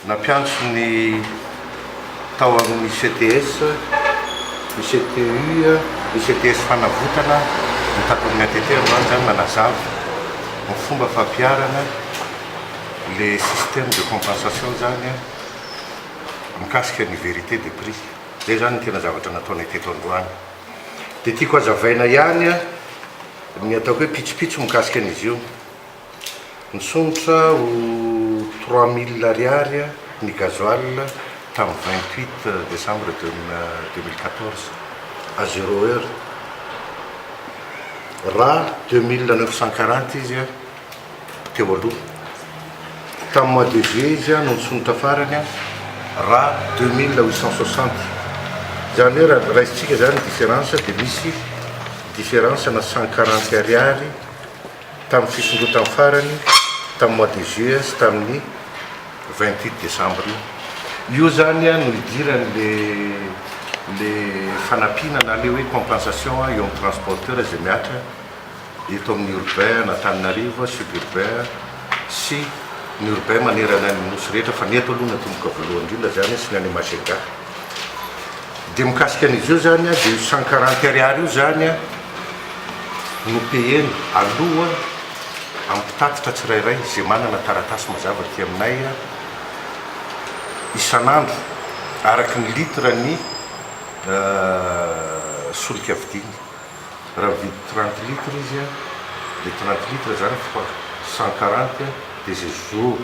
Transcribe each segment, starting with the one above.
Nampiantso ny tao amin'ny CTS, ny CTU, ny CTS Fanavotana ny Takon'ny ATT androany izany nanazava ny fomba fampiharana le système de compensation izany mikasika ny vérité des prix. Izay izany ny tena zavatra nataonay teto androany. Dia tiako hazavaina ihany ny ataoko hoe pitsopitso mikasika an'izy io. Nisondrotra ho trois mille ariary ny gasoil tamin'ny vingt huit décembre deux mille quatorze à zéro heure. Ra deux mille neuf cent quarante izy teo aloha. Tamin'ny mois de juillet izy no nisondrotra farany ra deux mille huit cent soixante. Izany hoe raha raisintsika izany ny différence dia misy différence-na cent quarante ariary. tamin'ny fisondrotany farany tamin'ny mois de juillet sy tamin'ny vingt huit décembre io. Io izany no idiran'ilay fanampiana na ilay hoe compensation eo amin'ny transporteur izay mihatra eto amin'ny urbain an'Antananarivo, suburbain sy ny urbain manerana ny Nosy rehetra fa ny eto aloha no atomboka voalohany indrindra izany sy ny any Majega. dia mikasika an'izy io izany dia io cent quarante ariary io izany no payena aloha amin'ny mpitatitra tsirairay izay manana taratasy mazava aty aminay isan'andro araka ny litre ny solika vidiany. Raha mividy trente litres izy an, dia trente litres zany fois cent quarante an, dia izay jour,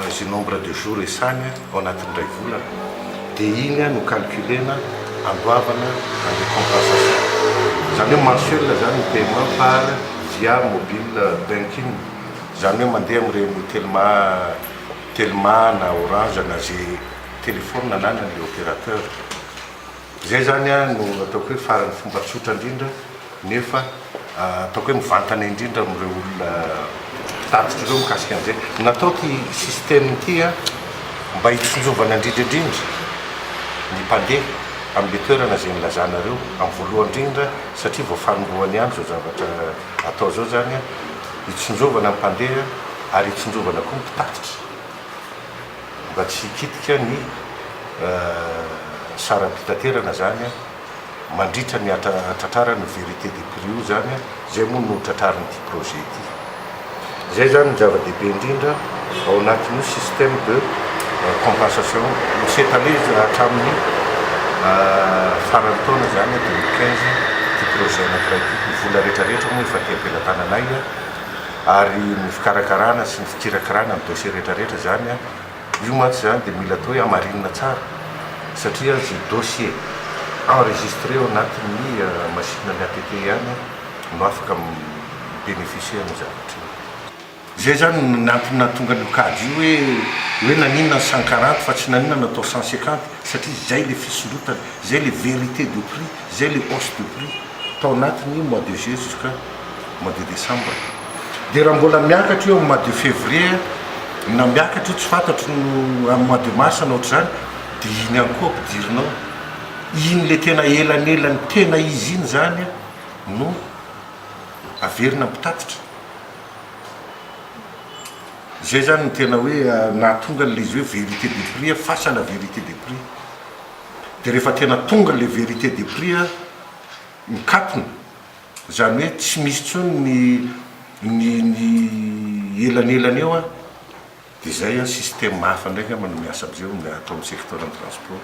izay nombre de jour esany an, ao anatin'ny iray volana, dia iny an no calculena andoavana an'ilay compensation. Izany hoe mensuel zany ny paiement par via mobile banking, izany hoe mandeha amin'ireny telma, telma na orange na izay telephone ananan'ilay opérateur. Izay izany no ataoko hoe faran'ny fomba tsotra indrindra nefa ataoko hoe mivantana indrindra amin'ireo olona mpitatitra ireo mikasika an'izay. Natao ity système ity mba hitsinjovana indrindra indrindra ny mpandeha amin'ilay toerana izay nilazanareo amin'ny voalohany indrindra satria vao fanombohany ihany izao zavatra atao izao izany, hitsinjovana ny mpandeha ary hitsinjovana koa ny mpitatitra. mba tsy hikitika ny saram-pitaterana zany a, mandritra ny hatratrarany ny vérité de prix io zany a, zay moa no tratrarin'ity projet ity. Zay zany no zava-dehibe indrindra ao anatin'io système de compensation io, misy étalé hatramin'ny faran'ny taona zany a, 2015, ity projet anankiray ity, ny vola retraretra moa efa aty am-pelatananay a. Ary ny fikarakarana sy ny fikirakirana ny dossier rehetrarehetra izany an, io mantsy izany dia mila atao hoe hamarinina tsara satria izay dossier enregistré ao anatin'ny masinina ny ATT ihany no afaka mi-beneficier an'io zavatra io. Izay izany ny antony nahatonga an'io kajy io hoe hoe naninona ny cent quarante fa tsy naninona natao cent cinquante satria izay ilay fisondrotana, izay ilay vérité de prix, izay ilay hausse de prix tao anatin'ny mois de juin jusqu'à. mois de décembre dia raha mbola miakatra io am mois de février na miakatra io tsy fantatro no am mois de mars na ohatr'izany dia iny ihany koa ampidirinao iny le tena elanelany tena izy iny zany a no averina am mpitatitra zay zany no tena hoe nahatonga an'le izy hoe vérité de prix a fasana vérité de prix dia rehefa tena tonga le vérité de prix a mikatona Izany hoe tsy misy intsony ny ny ny elanelany eo an! Dia izay an, système hafa indray angamba no miasa amin'izay, atao amin'ny secteur ny transport.